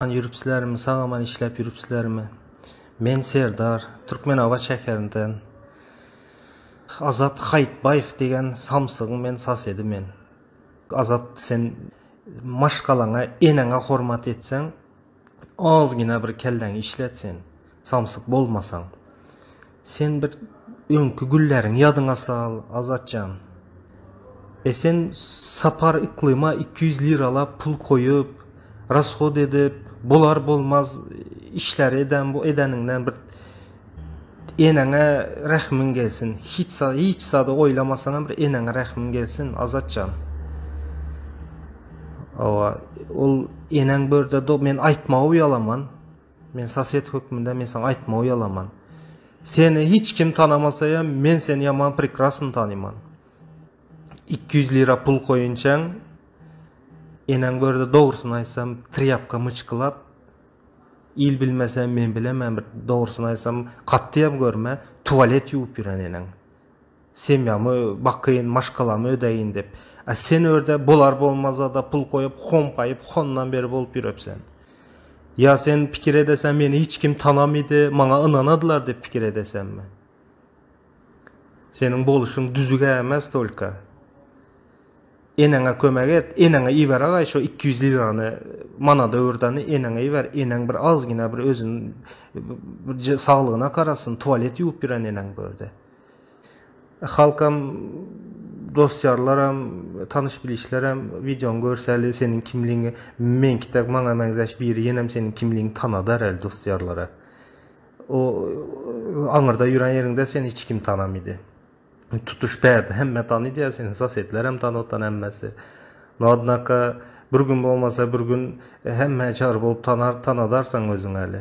Aman ýürüpsilermi, sag-aman işläp ýürüpsilermi? Men Serdar, Türkmenabat şäherinden. Azat Haýytbaýew diýen samsygyň men sasedi men. Azat, sen maşgalaňa, eneňe hormat etseň, azgina bir kelläňi işlet sen, samsyk bolmasaň. Sen bir öňki günleriňi ýadyňa sal, Azat jan. E sen Sapar Yklyma iki ýüz liralap pul goýup, rashod edip, bolar-bolmaz işleri eden bu edeniňden bir eneňe rähmiň gelsin. Hiç za, hiç zady oýlamasaňam bir eneňe rähmiň gelsin, Azat jan. Hawa, ol eneň bu ýerde do, men aýtmaga uýalaman. Men sosed hökmünde men saňa aýtmagy uýalaman. Seni hiç kim tanamasaýam, men seni ýaman prekrasny tanyman. 200 lira pul goýunçaň, eneň gördi dogrusyny aýtsam, trýapka myçkylap, il bilmese men bilemän, dogrusyny aýtsam, katty ýap görme, tuwalet ýuwup ýören eneň. Semýamy bakyn, maşgalamy ödeýin dep. A sen örde bolar-bolmazada pul goýup, homgaýyp, hondan beri bolup ýürepsen. Ýa sen pikir edeseň meni hiç kim tanamydy, maňa ynanadylar dep pikir edeseňmi? Seniň boluşyň düzüge ämez tolka. Eneňe kömek et, eneňe iberagaý şo iki ýüz lirany, manada öwürdeni eneňe iber, eneň bir azgyna bir özüni bir saglygyna garasyn, tualet ýuwup ýören eneň bu örde. Halkam dosýarlaram tanyş bilişlerem wideony görsäli seniň kimligiňi meňki dek maňa meňzäş biri ýenem seniň kimligiňi tanadar el dosýarlara o aňyrda ýören ýeriňde seni hiç kim tanamydy tutuş bärde hemme tanydy ýa seni sosetlerem tanotan hemmesi no odnaka bir gün bolmasa bir gün hemme çar bolup tanar tanadarsaň özüňeli.